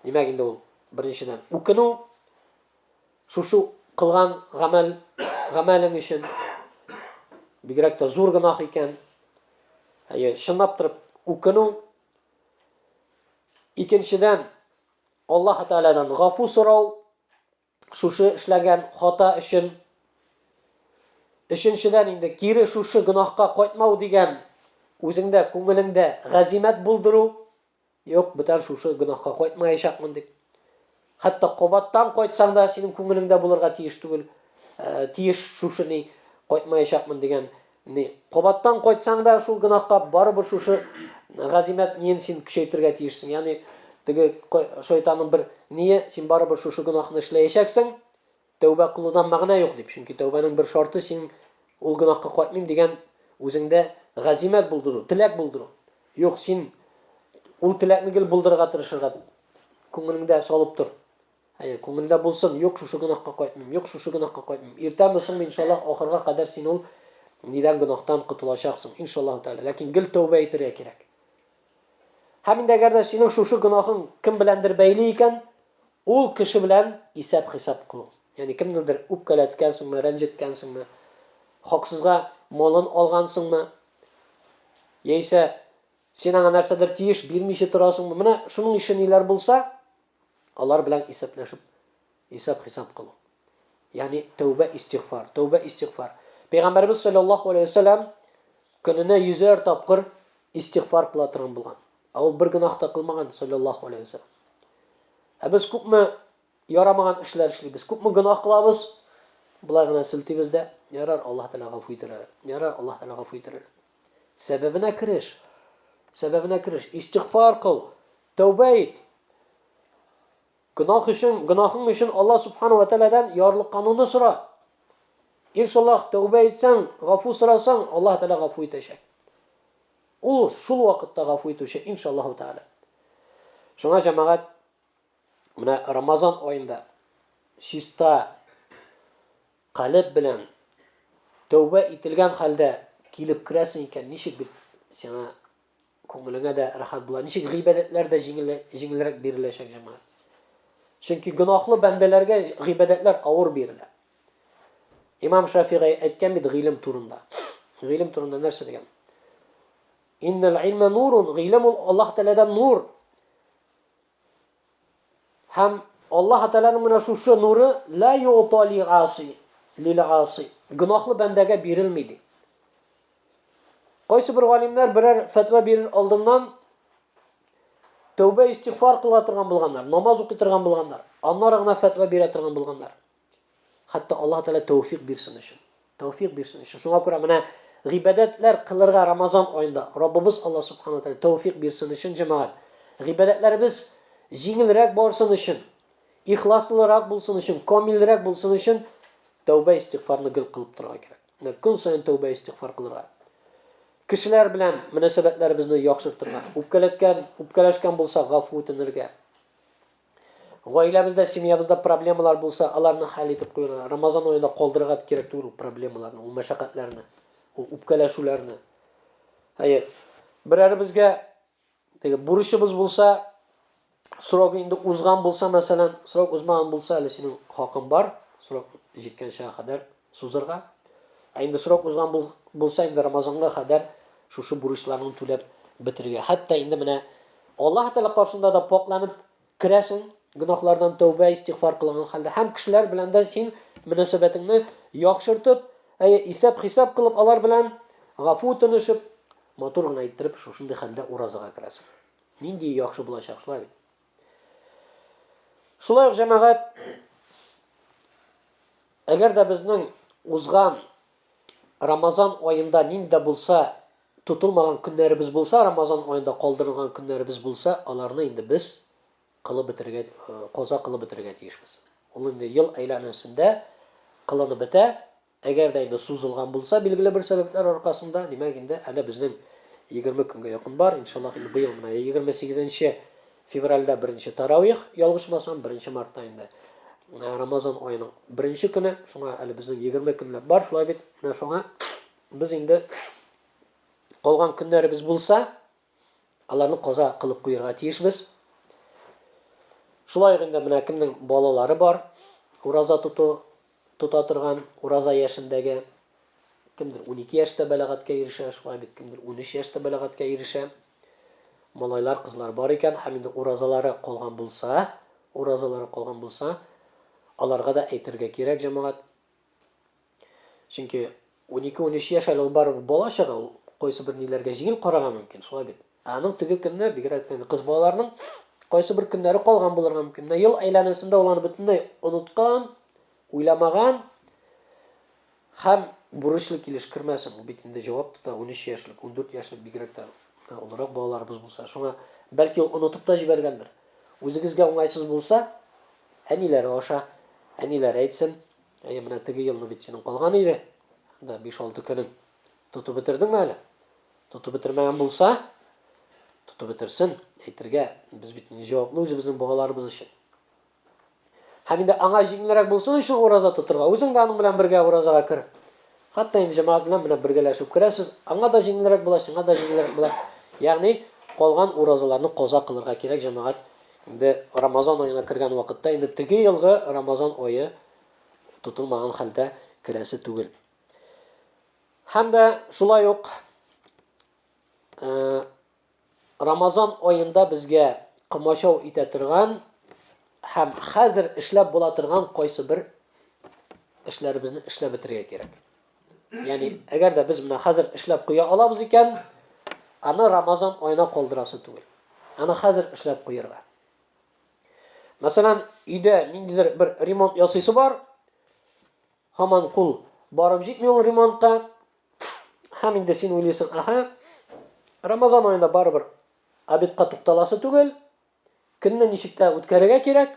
Димәк инде ул, беренчедән, үкенү, шушы кылган гамәл, гамәлең өчен, бигрәк тә зур гынах икән, әйе, шынлап торып үкенү, икенчедән, Аллаһ Тәаладан гафу сорау, шушы эшләгән хата өчен өченчедән инде кире шушы гөнаһка кайтмау дигән үзеңдә күңелеңдә гәзимәт булдыру юк бүтән шушы гөнаһка кайтмаячакмын дип хәтта кабаттан кайтсаң да синең күңелеңдә булырга тиеш түгел ә, тиеш шушы ни кайтмаячакмын дигән Ни, кабаттан кайтсаң да шул гынахка барыбер шушы газимәт ниен син көчәйтергә тиешсең. Ягъни теге шайтанның бер ние син барыбер шушы гынахны эшләячәксең. Тәүбә кылудан мәгънә юк дип. Чөнки тәүбәнең бер шарты син ул гынахка кайтмыйм дигән үзеңдә газимәт булдыру, теләк булдыру. Юк, син ул теләкне гел булдырырга тырышырга күңелеңдә салып тор. Әйе, күңелдә булсын, юк шушы гөнаһка кайтмыйм, юк шушы гөнаһка кайтмыйм. Иртәме соңмы иншаллаһ ахырга кадәр син ул дигән гөнаһтан котылачаксың, иншаллаһ тәгалә. Ләкин гел тәүбә итәргә кирәк. Һәм инде әгәр дә синең шушы гөнаһың кем беләндер бәйле икән, ул кеше белән исәп-хисап кылу. Ягъни кемнедер үпкәләткәнсеңме, рәнҗеткәнсеңме, хаксызга малын алгансыңмы, яисә син аңа нәрсәдер тиеш бирмичә торасыңмы? Менә шуның ише ниләр булса, алар белән исәпләшеп исәп-хисап кылу. Ягъни тәүбә истигъфар, тәүбә истигъфар. Пәйгамбәрбез саллаллаһу алейһи ва саллям көненә йөзәр тапкыр истигъфар кыла торган булган. Ә ул бер гөнаһ та кылмаган саллаллаһу алейһи ва саллям. Ә без күпме ярамаган эшләр эшлибез, күпме гөнаһ кылабыз, болай гына силтибез дә, ярар, Аллаһ Тәгалә гафу итәр. Ярар, Аллаһ Тәгалә гафу итәр. Сәбәбенә кереш. Сәбәбенә кереш. Истигъфар кыл. Тәүбә ит. Гөнаһ өчен, гөнаһың өчен Алла субхану ва тааладан ярлыккануны сора. Иншаллах, тәүбә итсәң, гафу сорасаң, Аллаһ тааля гафу итәчәк. Ул шул вакытта гафу итүче, иншаллаху тааля. Шуңа җәмәгать менә Рамазан аенда чиста Калеб белән тәүбә ителгән хәлдә килеп керәсең икән, ничек бит сиңа күңелеңә дә рәхәт була, ничек гыйбадәтләр дә җиңел, җиңелрәк биреләчәк, җәмәгать. Чөнки гөнаһлы бәндәләргә гыйбадәтләр авыр бирелә. Имам Шафигый әйткән бит гыйлем турында. Гыйлем турында нәрсә дигән? Иннәл илмә нурун, гыйлем ул Аллаһ Тәгаләдән нур. Һәм Аллаһ Тәгаләнең менә шушы нуры ла ютали аси, лил аси. Гөнаһлы бәндәгә бирелми ди. Кайсы бер галимнәр берәр фәтва бирер алдыннан тәүбә истигъфар кыла торган булганнар, намаз укый торган булганнар, аннары гына фәтва бирә торган булганнар. Хәтта Аллаһ Тәгалә тәүфик бирсен өчен. Тәүфик бирсен өчен. Шуңа күрә менә гыйбадәтләр кылырга Рамазан аенда Раббыбыз Аллаһ Субхану ва Тәгалә тәүфик бирсен өчен, җәмәгать. Гыйбадәтләребез җиңелрәк барсын өчен, ихласлырак булсын өчен, камилрәк булсын өчен тәүбә истигъфарны гел кылып торырга кирәк. Менә көн саен тәүбә истигъфар кылырга. Кешеләр белән мөнәсәбәтләребезне яхшыртырга, үпкәләткән, үпкәләшкән булсак, гафу үтенергә. Гаиләбездә, семьябызда проблемалар булса, аларны хәл итеп куярга, Рамазан аенда калдырырга кирәк түгел ул проблемаларны, ул мәшәкатьләрне, ул үпкәләшүләрне. Әйе, берәребезгә теге бурычыбыз булса, срогы инде узган булса, мәсәлән, срок узмаган булса, әле синең хакың бар, срок җиткәнчә кадәр сузырга, ә инде срок узган бул, булса инде Рамазанга кадәр шушы бурычларны түләп бетерергә. Хәтта инде менә Аллаһ Тәгалә каршында да покланып керәсең, гөнаһлардан тәүбә, истигъфар кылган хәлдә һәм кешеләр белән дә син мөнәсәбәтеңне яхшыртып, әйе, исәп-хисап кылып алар белән гафу тынышып, матур гына иттереп шушындый хәлдә уразага керәсең. Нинди яхшы булачак шулай бит. Шулай ук җәмәгать әгәр дә безнең узган Рамазан аенда нинди булса тотылмаган көннәребез булса, Рамазан аенда калдырылган көннәребез булса, аларны инде без кылып бетергә, э, каза кылып бетергә тиешбез. Ул инде ел әйләнәсендә кылынып бетә. Әгәр дә инде сузылган булса, билгеле бер сәбәпләр аркасында, димәк инде әле безнең 20 көнгә якын бар. Иншаллах, инде быел менә 28 февральдә беренче таравих, ялгышмасам, 1 мартта инде э, Рамазан аеның беренче көне, шуңа әле безнең 20 көнләп бар, шулай бит. Менә шуңа без инде калган көннәребез булса, Аларны каза кылып куерга тиешбез. Шулай ук инде менә кемнең балалары бар, ураза тоту тота торган, ураза яшендәге, кемдер 12 яшьтә бәләгатькә ирешә, шулай бит, кемдер 13 яшьтә бәләгатькә ирешә. Малайлар, кызлар бар икән, һәм инде уразалары калган булса, уразалары калган булса, аларга да әйтергә кирәк, җәмәгать. Чөнки 12-13 яшь әле ул барыбер бала чага, ул кайсы бер ниләргә җиңел карарга мөмкин, шулай бит. Ә аның теге көнне, бигрәк тә кыз балаларның кайсы бер көннәре калган булырга мөмкин. Менә ел әйләнәсендә ул аны бөтенләй оныткан, уйламаган һәм бурычлы килеш кермәсен. Ул бит инде җавап тота, 13 яшьлек, 14 яшьлек бигрәк тә олырак балаларыбыз булса. Шуңа бәлки ул онытып та җибәргәндер. Үзегезгә уңайсыз булса, әниләре аша, әниләре әйтсен, Әйе, менә теге елны бит синең калган иде. Да 5-6 көнең. Тотып бетердеңме әле? Тотып бетермәгән булса, тотып бетерсен, әйтергә. Без бит инде җаваплы үзебезнең балаларыбыз өчен. Һәм инде аңа җиңелрәк булсын өчен ураза тотырга. Үзең дә аның белән бергә уразага кер. Хәтта инде җәмәгать белән менә бергәләшеп керәсез, аңа да җиңелрәк була, сиңа да җиңелрәк була. Ягъни калган уразаларны каза кылырга кирәк, җәмәгать инде Рамазан аена кергән вакытта инде теге елгы Рамазан ае тотылмаган хәлдә керәсе түгел. Һәм дә шулай ук Рамазан аенда безгә комачау итә торган һәм хәзер эшләп була торган кайсы бер эшләребезне эшләп бетерергә кирәк. Ягъни, әгәр дә без менә хәзер эшләп куя алабыз икән, аны Рамазан аена калдырасы түгел. Аны хәзер эшләп куярга. Мәсәлән, өйдә ниндидер бер ремонт ясыйсы бар, һаман кул барып җитми ул ремонтка, Һәм инде син уйлыйсың, аха, Рамазан аенда барыбер обедка тукталасы түгел, көнне ничек тә үткәрергә кирәк.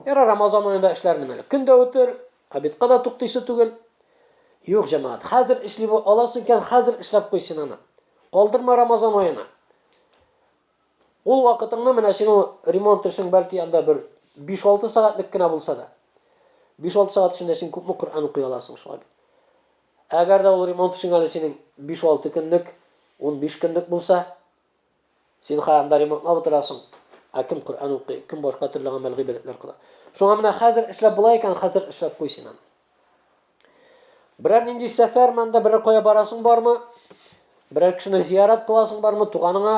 Яра Рамазан аенда эшләрмен әле. Көн дә үтер, обедка да туктыйсы түгел. Юк, җәмәгать, хәзер эшли бу аласы икән, хәзер эшләп куй син аны. Калдырма Рамазан аена. Ул вакытыңны менә синең ремонт эшең бәлки анда бер 5-6 сәгатьлек кенә булса да. 5-6 сәгать эчендә син күпме Коръән укый аласың шулай бит. Әгәр дә ул ремонт эшең әле синең 5-6 көнлек, 15 көнлек булса, син хәзер анда ремонтлап утырасың. Ә кем Коръән укый, кем башка төрле гамәл гыйбадәтләр кыла. Шуңа менә хәзер эшләп була икән, хәзер эшләп куй син аны. Берәр нинди сәфәр монда берәр кая барасың бармы? Берәр кешене зиярат кыласың бармы? Туганыңа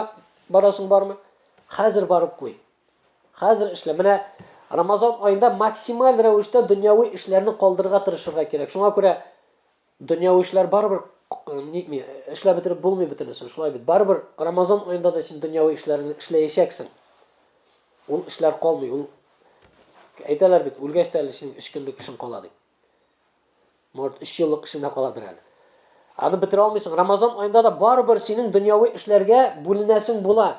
барасың бармы? Хәзер барып куй. Хәзер эшлә. Менә Рамазан айында максималь рәвештә дөньяви эшләрне калдырырга тырышырга кирәк. Шуңа күрә дөньяви эшләр барыбер нитми, эшләп бетереп булмый бөтенесе. Шулай бит. Барыбер Рамазан айында да син дөньяви эшләрне эшләячәксең. Ул эшләр калмый, ул әйтәләр бит, үлгәч тә әле синең өч көнлек эшең кала дип. Может, өч еллык эшенә каладыр әле. Аны бетерә алмыйсың. Рамазан аенда да барыбер синең дөньяви эшләргә бүленәсең була.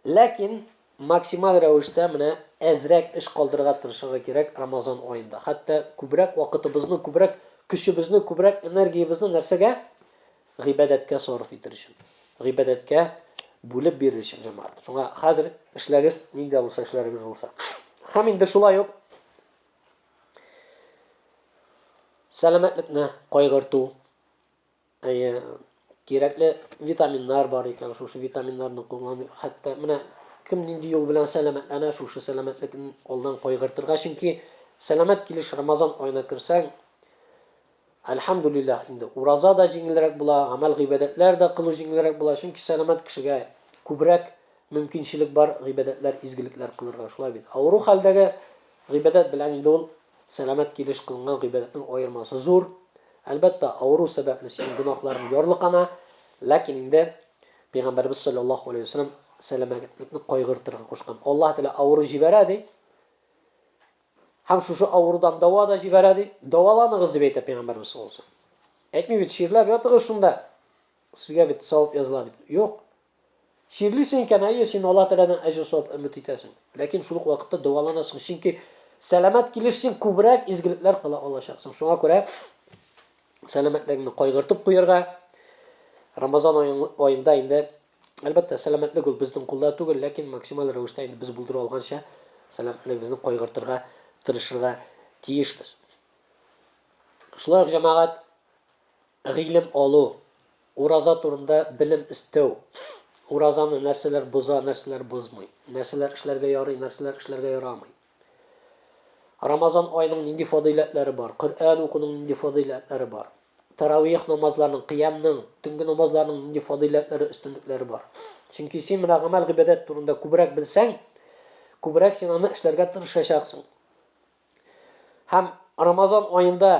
Ләкин максималь рәвештә менә әзрәк эш калдырырга тырышырга кирәк Рамазан аенда. Хәтта күбрәк вакытыбызны, күбрәк көчебезне, күбрәк энергиябезне нәрсәгә? Гыйбадәткә сарыф итер өчен. Гыйбадәткә бүлеп бирер өчен җәмәгать. Шуңа хәзер эшләгез, нинди булса эшләрегез булса. Һәм инде шулай ук Сәламәтлекне кайгырту. Әйе, кирәкле витаминнар бар икән, шушы витаминнарны куллану. Хәтта менә кем нинди юл белән сәламәтләнә, шушы сәламәтлекне алдан кайгыртырга, чөнки сәламәт килеш Рамазан аена керсәң, Әлхәмдүлилләһ, инде ураза да җиңелрәк була, гамәл-гыйбадәтләр дә кылу җиңелрәк була, чөнки сәламәт кешегә күбрәк мөмкинчелек бар гыйбадәтләр, изгелекләр кылырга, шулай бит? Авыру хәлдәге гыйбадәт белән инде ул сәламәт килеш кылынган гыйбадәтнең аермасы зур. Әлбәттә, авыру сәбәпле синең гөнаһларың ярлыкана, ләкин инде Пәйгамбәребез салләллаһу алейһи ва сәлләм сәламәтлекне кайгыртырга кушкан. Аллаһ Тәгалә авыру җибәрә, ди. Һәм шушы авырудан дәва да җибәрә, ди. Дәваланыгыз, дип әйтә пәйгамбәребез саллаллаһу алейһи ва Әйтми бит, чирләп ятыгыз шунда. Сезгә бит савап языла дип. Юк. Чирлисең икән, әйе, син Аллаһ Тәгаләдән әҗер-савап өмет итәсең. Ләкин шул ук вакытта дәваланасың, чөнки сәламәт килеш син күбрәк изгелекләр кыла алачаксың. Шуңа күрә сәламәтлегеңне кайгыртып куярга, Рамазан аенда инде Әлбәттә, сәламәтлек ул безнең кулда түгел, ләкин максималь рәвештә инде без булдыру алганча сәламәтлегебезне кайгыртырга тырышырга тиешбез. Шулай ук җәмәгать гыйлем алу, ураза турында белем истәү, уразаны нәрсәләр боза, нәрсәләр бозмый, нәрсәләр эшләргә ярый, нәрсәләр эшләргә ярамый. Рамазан аеның нинди фадыйләтләре бар? Коръән укуның нинди фадыйләтләре бар? Таравих намазларының, кыямның, төнге намазларның нинди фадыйләтләре, өстенлекләре бар? Чөнки син менә гамәл гыйбадәт турында күбрәк белсәң, күбрәк син аны эшләргә тырышачаксың. Һәм Рамазан аенда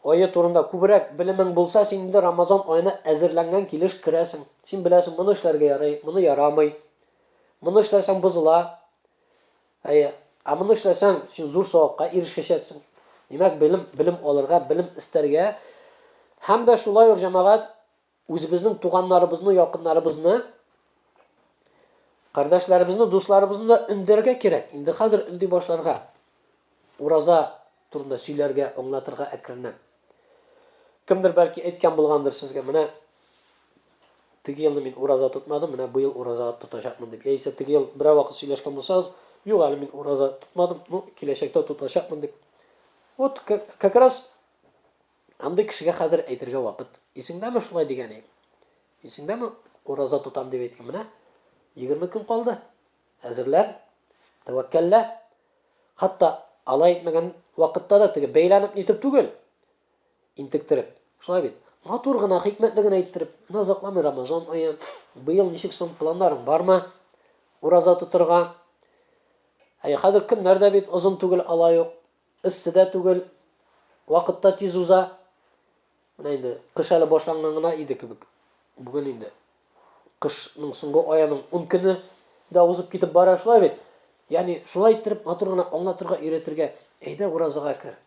ае турында күбрәк белемең булса, син инде Рамазан аена әзерләнгән килеш керәсең. Син беләсең, моны эшләргә ярый, моны ярамый. Моны эшләсәң бозыла. Әйе, ә моны эшләсәң, син зур савапка ирешәчәксең. Димәк, белем, белем алырга, белем истәргә һәм дә шулай ук җәмәгать үзебезнең туганнарыбызны, якыннарыбызны, кардәшләребезне, дусларыбызны да өндәргә кирәк. Инде хәзер өнди башларга. Ураза турында сөйләргә, аңлатырга әкренләп. Кемдер бәлки әйткән булгандыр сезгә, менә теге елны мин ураза тотмадым, менә быел ураза тотачакмын дип. Яисә теге ел берәр вакыт сөйләшкән булсагыз, юк әле мин ураза тотмадым, ну киләчәктә тотачакмын дип. Вот как раз андый кешегә хәзер әйтергә вакыт. Исеңдәме шулай дигәне? Исеңдәме ураза тотам дип әйткән? Менә 20 көн калды. Әзерлән, тәвәккәллә. Хатта алай итмәгән вакытта да теге бәйләнеп нитеп түгел, интектереп. Шулай бит. Матур гына, хикмәтле генә иттереп, менә озакламый Рамазан ае. Быел ничек соң планнарың бармы? Ураза тотырга. Әй, хәзер көннәр дә бит озын түгел алай ук. Эссе дә түгел. Вакытта тиз уза. Менә инде кыш әле башланган гына иде кебек. Бүген инде кышның соңгы аеның 10 көне дә узып китеп бара шулай бит. Ягъни шулай иттереп матур гына аңлатырга, өйрәтергә, әйдә уразага кер.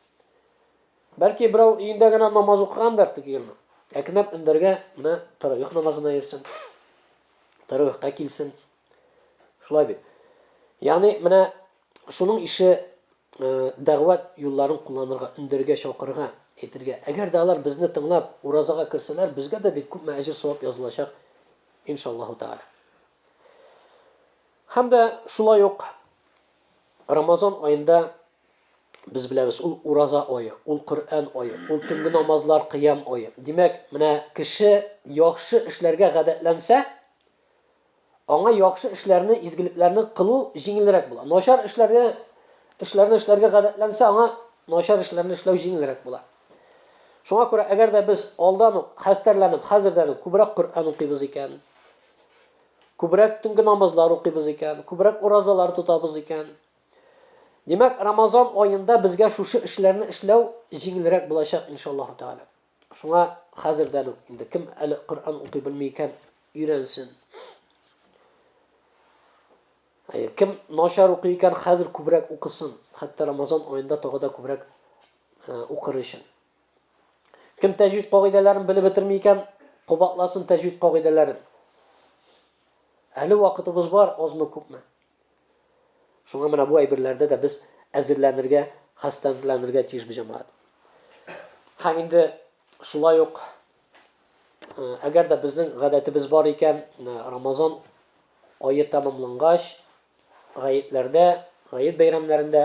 Бәлки берәү өендә генә намаз укыгандыр теге елны. Әкренләп өндәргә менә таравих намазына йөрсен. Таравихка килсен. Шулай бит. Ягъни менә шуның ише дәгъват юлларын кулланырга, өндәргә, чакырырга, әйтергә. Әгәр дә алар безне тыңлап, уразага керсәләр, безгә дә бит күпме әҗер-савап язылачак, иншаллаһу тәгалә. Һәм дә шулай ук Рамазан аенда без беләбез, ул ураза ае, ул Коръән ае, ул төнге намазлар, кыям ае. Димәк, менә кеше яхшы эшләргә гадәтләнсә, Аңа яхшы эшләрне, изгелекләрне кылу җиңелрәк була. Начар эшләргә эшләрне эшләргә гадәтләнсә, аңа начар эшләрне эшләү җиңелрәк була. Шуңа күрә, әгәр дә без алдан ук хәстәрләнеп, хәзердән үк күбрәк Коръән укыйбыз икән, күбрәк төнге намазлар укыйбыз икән, күбрәк уразалар тотабыз икән, Димәк, Рамазан аенда безгә шушы эшләрне эшләү җиңелрәк булачак, иншаллаһу тәгалә. Шуңа хәзердән үк инде кем әле Коръән укый белми икән, өйрәнсен. Әйе, кем начар укый икән, хәзер күбрәк укысын. Хәтта Рамазан аенда тагы да күбрәк э, укыр өчен. Кем тәҗвид кагыйдәләрен белеп бетерми икән, кабатласын тәҗвид кагыйдәләрен. Әле вакытыбыз бар, азмы күпме. Шуңа менә бу әйберләрдә дә без әзерләнергә, хәстәрләнергә тиеш бу җәмәгать. Һәм инде шулай ук әгәр дә безнең гадәтебез бар икән, Рамазан ае тәмамлангач, гаетләрдә, гает бәйрәмнәрендә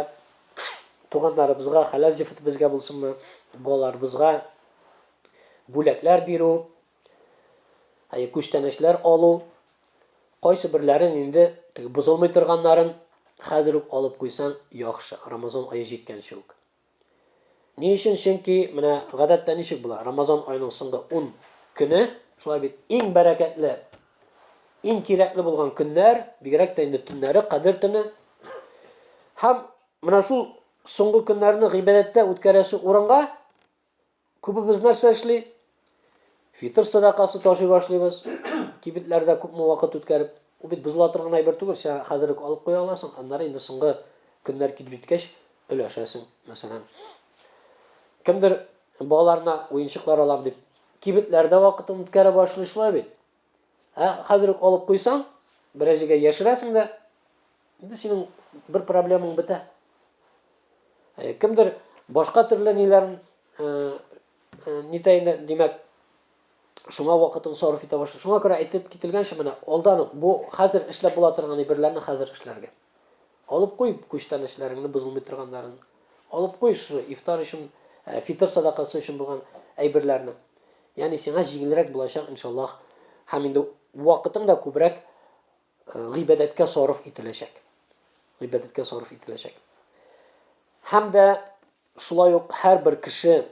туганнарыбызга, хәләл җефетебезгә булсынмы, балаларыбызга бүләкләр бирү, Әйе, күчтәнәчләр алу, кайсы берләрен инде теге бозылмый торганнарын хәзер үк алып куйсаң яхшы, Рамазан ае җиткәнче үк. Ни өчен? Чөнки менә гадәттә ничек була? Рамазан аеның соңгы 10 көне, шулай бит, иң бәрәкәтле, иң кирәкле булган көннәр, бигрәк тә инде төннәре, кадер төне. Һәм менә шул соңгы көннәрне гыйбадәттә үткәрәсе урынга Күбебез нәрсә эшли? Фитр садакасы ташый башлыйбыз. Кибетләрдә күпме вакыт үткәреп, ул бит бозыла торган әйбер түгел, сиңа хәзер үк алып куя аласың, аннары инде соңгы көннәр килеп җиткәч өләшәсең, мәсәлән. Кемдер балаларына уенчыклар алам дип, кибетләрдә вакытын үткәрә башлый шулай бит. Ә хәзер үк алып куйсаң, бераз җиргә яшерәсең дә, инде синең бер проблемаң бетә. Ә кемдер башка төрле ниләрен э, э, нитәйне, димәк, шуңа вакытын сарыф итә башлый. Шуңа күрә әйтеп кителгәнчә менә алдан ук бу хәзер эшләп була торган әйберләрне хәзер эшләргә. Алып куй күчтән эшләреңне бозылмый торганнарын. Алып куй шушы ифтар өчен, э, фитр садакасы өчен булган әйберләрне. Ягъни сиңа җиңелрәк булачак, иншаллаһ. Һәм инде вакытың да күбрәк э, гыйбадәткә сарыф ителәчәк. Гыйбадәткә сарыф ителәчәк. Һәм дә шулай ук һәрбер кеше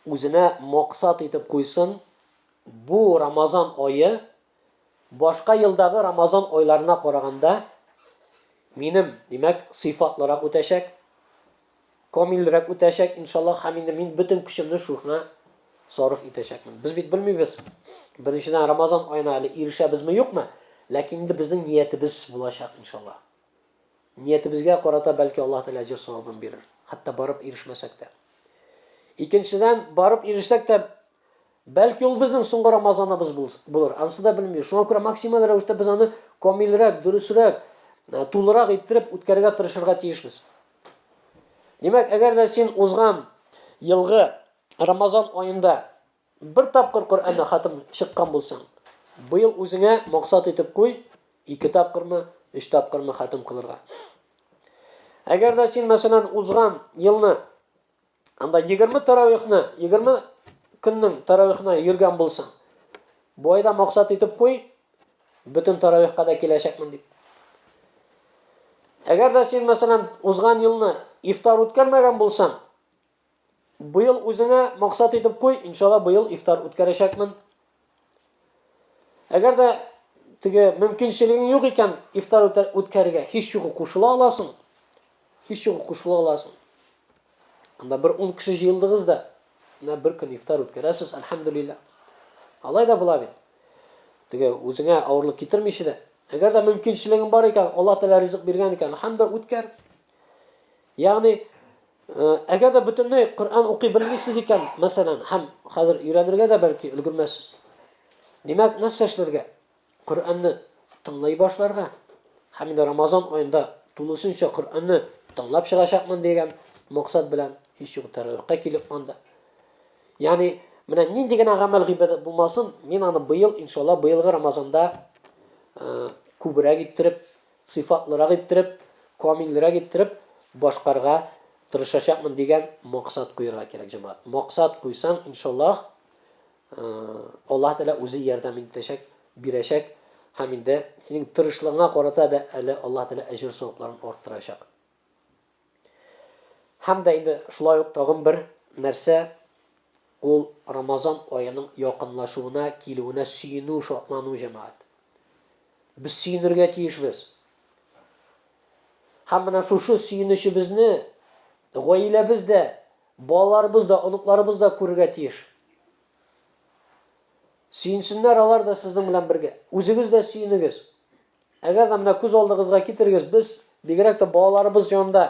үзенә максат итеп куйсын, бу Рамазан ае башка елдагы Рамазан айларына караганда минем, димәк, сыйфатлырак үтәчәк. камилрәк үтәчәк, иншаллах, һәм инде мин бөтен көчемне шухна сарыф итәчәкмен. Без бит белмибез, беренчедән Рамазан аена әле ирешәбезме, юкмы, ләкин инде безнең ниятебез булачак, иншаллах. Ниятебезгә карата бәлки Аллаһ Тәгалә әҗер савабын бирер, хәтта барып ирешмәсәк тә. Икенчедән, барып ирешсәк тә, бәлки ул безнең соңгы Рамазаныбыз булыр, анысы да белмибез. Шуңа күрә максималь рәвештә без аны камилрәк, дөресрәк, тулырак иттереп үткәрергә тырышырга тиешбез. Димәк, әгәр дә син узган елгы Рамазан аенда бер тапкыр Коръәнне хатым чыккан булсаң, быел үзеңә максат итеп куй, ике тапкырмы, өч тапкырмы хатым кылырга. Әгәр дә син, мәсәлән, узган елны Анда 20 таравихны, 20 көннең таравихына йөргән булсаң, бу айда максат итеп куй, бөтен таравихка да киләчәкмен дип. Әгәр дә син, мәсәлән, узган елны ифтар үткәрмәгән булсаң, быел үзеңә максат итеп куй, иншалла быел ифтар үткәрәчәкмен. Әгәр дә теге мөмкинчелегең юк икән, ифтар үткәрергә һич югы кушыла аласың. Һич югы кушыла аласың. Анда бер 10 кеше җыелдыгыз да, менә бер көн ифтар үткәрәсез, альхамдулилла. Алай да була бит. Теге үзеңә авырлык китермичә дә, әгәр дә мөмкинчелегең бар икән, Аллаһ Тәгалә ризык биргән икән, альхамдулилла үткәр. Ягъни, әгәр дә бөтенләй Коръән укый белмисез икән, мәсәлән, һәм хәзер өйрәнергә дә бәлки өлгермәссез. Димәк, нәрсә эшләргә? Коръәнне тыңлый башларга. Һәм инде Рамазан аенда тулысынча Коръәнне тыңлап чыгачакмын дигән максат белән һич юк тәравихка килеп анда. Ягъни, менә нинди генә гамәл гыйбадәт булмасын, мин аны быел, иншалла, быелгы Рамазанда күбрәк иттереп сыйфатлырак иттереп, камилрәк иттереп башкарырга тырышачакмын дигән максат куерга кирәк, җәмәгать. Максат куйсаң, иншаллаһ, Аллаһ Тәгалә үзе ярдәм итәчәк, бирәчәк һәм инде синең тырышлыгыңа карата да әле Аллаһ Тәгалә әҗер-савапларын арттырачак. Һәм дә инде шулай ук тагын бер нәрсә, ул Рамазан аеның якынлашуына, килүенә сөенү, шатлану, җәмәгать. Без сөенергә тиешбез. Һәм менә шушы сөенечебезне гаиләбез дә, балаларыбыз да, оныкларыбыз да күрергә тиеш. Сөенсеннәр алар да сезнең белән бергә. Үзегез дә сөенегез. Әгәр дә менә күз алдыгызга китерегез, без бигрәк тә балаларыбыз янында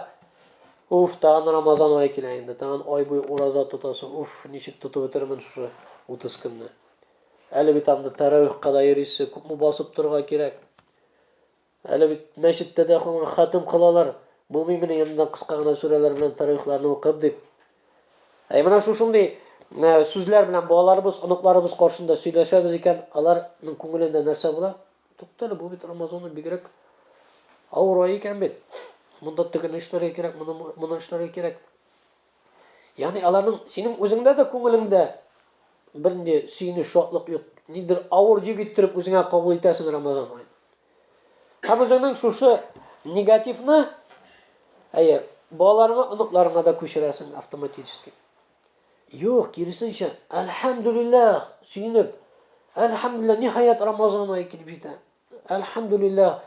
Уф, тагын Рамазан ае килә инде. Тагын ай буе ураза тотасың. Уф, ничек тотып бетермен шушы 30 көнне. Әле бит анда тәрәвихка да йөрисең, күпме басып торырга кирәк. Әле бит мәчеттә дә хатым кылалар. Булмый менә янында кыска гына сүрәләр белән тарихларны укып дип. Әй менә шушындый сүзләр белән балаларыбыз, оныкларыбыз каршында сөйләшәбез икән, аларның күңелендә нәрсә була? Туктале, бу бит Амазонның бигрәк авыр ай икән бит. Монда тегене эшләргә кирәк, моны моны эшләргә кирәк. Ягъни аларның синең үзеңдә дә күңелеңдә бернинди сөенеч, шатлык юк. Нидер авыр йөк иттереп үзеңә кабул итәсең Рамазан ай. Һәм үзеңнең шушы негативны әйе, балаларыңа, оныкларыңа да күчерәсең автоматически. Юк, киресенчә, әлхәмдүлилләһ, сөенеп. Әлхәмдүлилләһ, ниһаять Рамазан ае килеп җитә. Әлхәмдүлилләһ,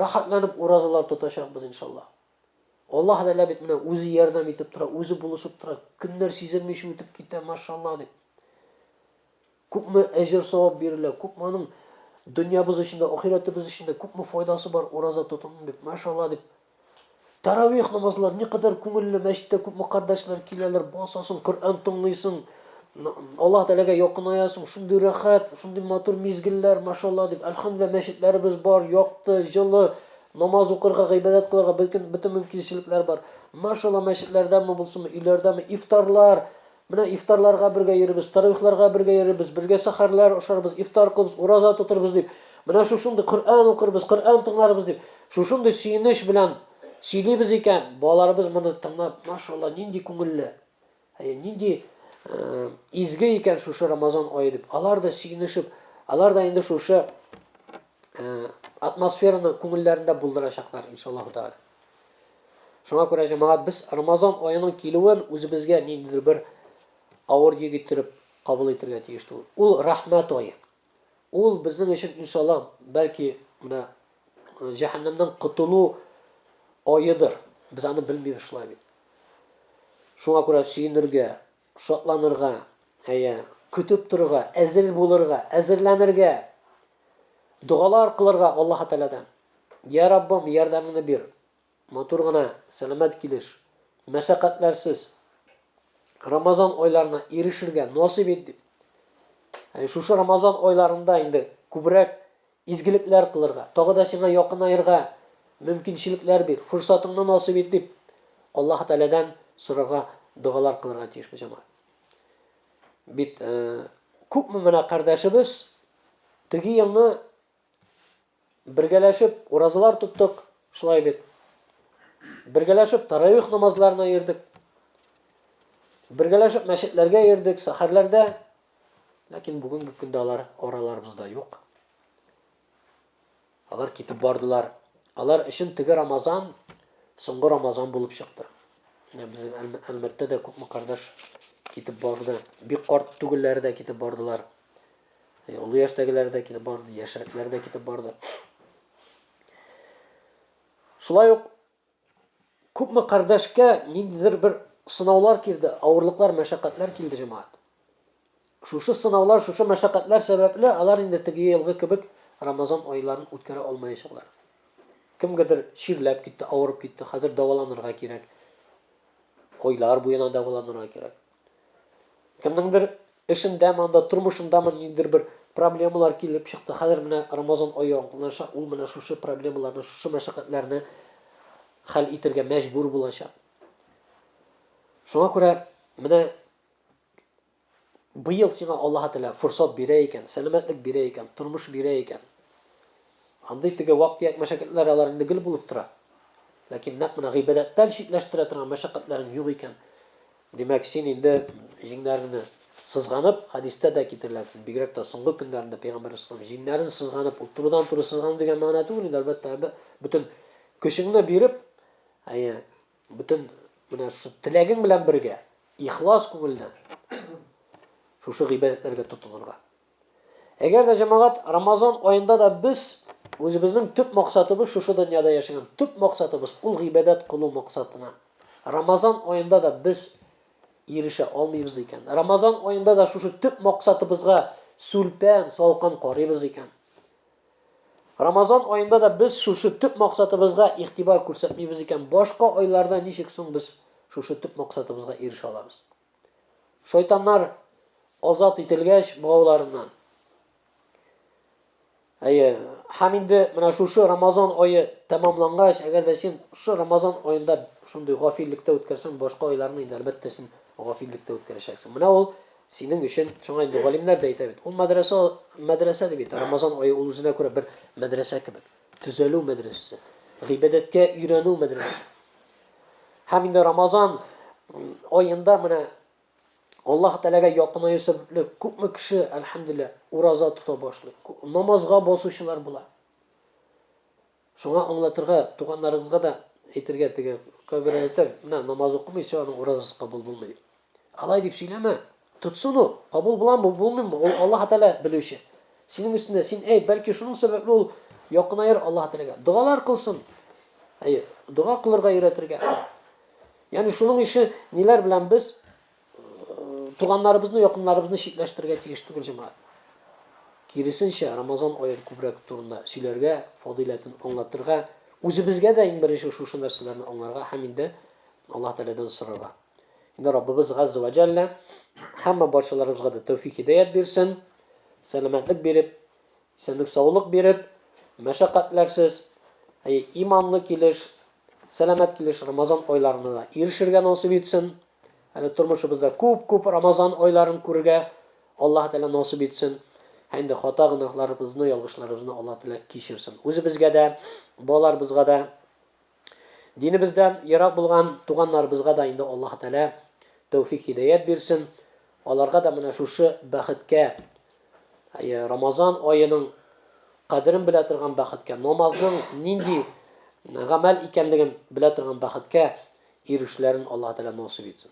рәхәтләнеп уразалар тотачакбыз, иншаллаһ. Аллаһ Тәгалә бит менә үзе ярдәм итеп тора, үзе булышып тора. Көннәр сизелмичә үтеп китә, машаллаһ дип. Күпме әҗер-савап бирелә, күпме аның дөньябыз өчен дә, ахирәтебез өчен дә күпме файдасы бар, ураза тотындым дип, машалла дип. Таравих намазлар никадәр күңелле, мәчеттә күпме кардәшләр киләләр, басасың, Коръән тыңлыйсың, Аллаһ Тәгаләгә якынаесың, шундый рәхәт, шундый матур мизгелләр, машалла дип. Әлхәмдүлилләһ, мәчетләребез бар, якты, җылы, намаз укырга, гыйбадәт кылырга бөтен мөмкинчелекләр бар. Машалла, мәчетләрдәме булсынмы, өйләрдәме, ифтарлар, Менә ифтарларга бергә йөрибез, тәравихларга бергә йөрибез, бергә сәхәрләр ашарбыз, ифтар кылырбыз, ураза тотырбыз, дип, менә шушындый Коръән укырбыз, Коръән тыңларбыз, дип, шушындый сөенеч белән сөйлибез икән, балаларыбыз моны тыңлап, машалла, нинди күңелле, әйе, нинди изге икән шушы Рамазан ае дип, алар да сөенешеп, алар да инде шушы атмосфераны күңелләрендә булдырачаклар, иншаллаһу тәгалә. Шуңа күрә, җәмәгать, без Рамазан аеның килүен үзебезгә ниндидер бер авыр йөк иттереп кабул итергә тиеш түгел. Ул рәхмәт ае. Ул безнең өчен, иншаллаһ, бәлки менә э, җәһәннәмнән котылу аедыр. Без аны белмибез шулай бит. Шуңа күрә сөенергә, Шатланырга, әйе, көтеп торырга, әзер булырга, әзерләнергә, догалар кылырга Аллаһы Тәгаләдән. Йә Раббым, ярдәмеңне бир. Матур гына, сәламәт килеш, мәшәкатьләрсез Рамазан айларына ирешергә насыйп ит дип. Ә шушы Рамазан айларында инде күбрәк Изгелекләр кылырга, тагы да сиңа якынаерга мөмкинчелекләр бир, форсатыңны насыйп ит, дип Аллаһы Тәгаләдән сорарга, догалар кылырга тиеш бу җәмәгать. Бит күпме менә кардәшебез теге елны бергәләшеп уразалар тоттык, шулай бит. Бергәләшеп таравих намазларына йөрдек. Бергәләшеп мәчетләргә йөрдек, сәхәрләрдә Ләкин бүгенге көндә алар араларыбызда юк. Алар китеп бардылар. Алар өчен теге Рамазан соңгы Рамазан булып чыкты. Менә безнең Әлмәттә дә күпме кардәш китеп барды. Бик карт түгелләре дә китеп бардылар. Э, олы яшьтәгеләр дә китеп барды, яшьрәкләр дә китеп барды. Шулай ук Күпме кардәшкә ниндидер бер сынаулар килде, авырлыклар, мәшәкатьләр килде, җәмәгать. Шушы сынаулар, шушы мәшәкатьләр сәбәпле алар инде теге елгы кебек Рамазан айларын үткәрә алмаячаклар. Кемгәдер чирләп китте, авырып китте, хәзер дәваланырга кирәк. Айлар буена дәваланырга кирәк. Кемнеңдер эшендәме, анда тормышындамы ниндидер бер проблемалар килеп чыкты. Хәзер менә Рамазан ае якынлаша, ул менә шушы проблемаларны, шушы мәшәкатьләрне хәл итергә мәҗбүр булачак. Шуңа күрә менә быел сиңа Аллаһ Тәгалә форсат бирә икән, сәламәтлек бирә икән, тормыш бирә икән. Андый теге вак-төяк мәшәкатьләр алар инде гел булып тора. Ләкин нәкъ менә гыйбадәттән читләштерә торган мәшәкатьләрең юк икән, Димәк, син инде җиңнәреңне сызганып, хәдистә дә китерелә, бигрәк тә соңгы көннәрендә пәйгамбәр саллаллаһу җиңнәрен сызганып, ул турыдан-туры сызгану дигән мәгънә түгел инде, әлбәттә, бөтен көчеңне биреп, әйе, бөтен менә шушы теләгең белән бергә, ихлас күңелдән шушы гыйбадәтләргә тотынырга. Әгәр дә җәмәгать Рамазан аенда да без үзебезнең төп максатыбыз шушы дөньяда яшәгән. Төп максатыбыз ул гыйбадәт кылу максатына. Рамазан аенда да без ирешә алмыйбыз икән. Рамазан аенда да шушы төп максатыбызга сүлпән, салкын карыйбыз икән. Рамазан аенда да без шушы төп максатыбызга игътибар күрсәтмибез икән. Башка айларда ничек соң без шушы төп максатыбызга ирешә алабыз? Шайтаннар азат ителгәч богауларыннан. Әйе, һәм инде менә шушы Рамазан ае тәмамлангач, әгәр дә син шушы Рамазан аенда шундый гафиллектә үткәрсәң, башка айларны инде әлбәттә син гафиллектә үткәрәчәксең. Менә ул синең өчен шуңа инде галимнәр дә әйтә бит. Ул мәдрәсә, мәдрәсә дип әйтә. Рамазан ае ул үзенә күрә бер мәдрәсә кебек. Төзәлү мәдрәсәсе, гыйбадәткә өйрәнү мәдрәсәсе. Һәм инде Рамазан аенда менә Аллаһ Тәләгә якынаю сәбәпле күпме кеше, әлхәмдүлилләһ, ураза тота башлый. Намазга басучылар була. Шуңа аңлатырга, туганнарыгызга да әйтергә теге кабер әйтә, менә намаз укымыйча аның уразасы кабул булмый. Алай дип сөйләмә. Тотсын ул, кабул буламы, булмыймы, ул Аллаһ Тәгалә белүче. Синең өстендә син әйт, бәлки шуның сәбәпле ул якынаер Аллаһ Тәгаләгә. Догалар кылсын. Әйе, дога кылырга өйрәтергә. Ягъни шуның ише ниләр белән без э, туганнарыбызны, якыннарыбызны читләштерергә тиеш түгел җәмәгать. Киресенчә, Рамазан аен күбрәк турында сөйләргә, фадиләтен аңлатырга, үзебезгә дә иң беренче шушы нәрсәләрне аңларга һәм инде Аллаһ Тәгаләдән сорарга. Инде Раббыбыз Газза ва Җәллә һәммә барчаларыбызга да тәүфик хидәят бирсен, сәламәтлек биреп, исәнлек саулык биреп, мәшәкатьләрсез, әй, иманлы килеш, сәламәт килеш Рамазан айларына да ирешергә насыйп итсен. Әле тормышыбызда күп-күп Рамазан айларын күрергә Аллаһ Тәгалә насыйп итсен. Һәм инде хата гөнаһларыбызны, ялгышларыбызны Аллаһ Тәгалә кичерсен. Үзебезгә дә, балаларыбызга да Динебездән ерак булган туганнарыбызга да инде Аллаһ Тәгалә тәүфик-хидәят бирсен. Аларга да менә шушы бәхеткә, Рамазан аеның кадерен белә торган бәхеткә, намазның нинди гамәл икәнлеген белә торган бәхеткә ирешүләрен Аллаһ Тәгалә насыйп итсен.